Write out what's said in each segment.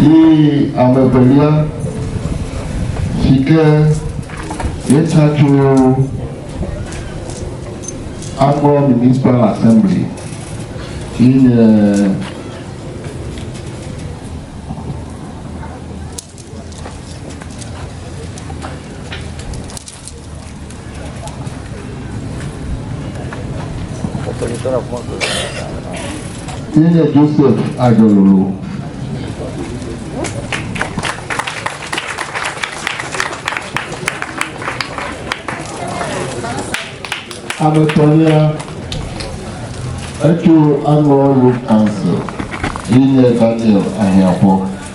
Ye ame evelia si ke míetsa tso Agbɔ Municipal Assembly yi nye Ye nye Joseph Adelolo. Ame etɔ̃lia, etso Annual Youth Council, ye nye Daniel Ahiaƒɔ.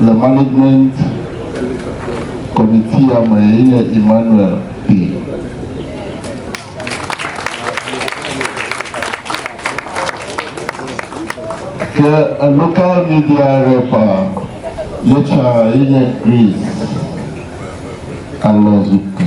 le Management Committee ya me ye nye Emmanuel Kpee. Ke a local media rep a ye tsã ye nye Grace Alɔzuke.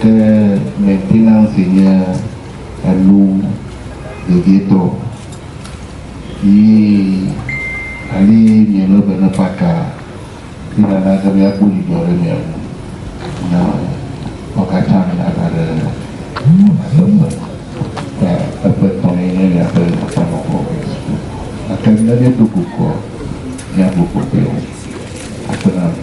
Ke maintenance nye enu vevietɔ ye ale miele be ne paka ye nana be miakpɔ dzidzɔ ɖe mia ŋu na wo katã miava ɖe nyateƒe. Ta eƒe tɔ ye nye miaƒe Aƒenɔkɔ Kristo. Gake ne míedo go kɔ, míabu kpɔtɔewo. Aƒe na mi.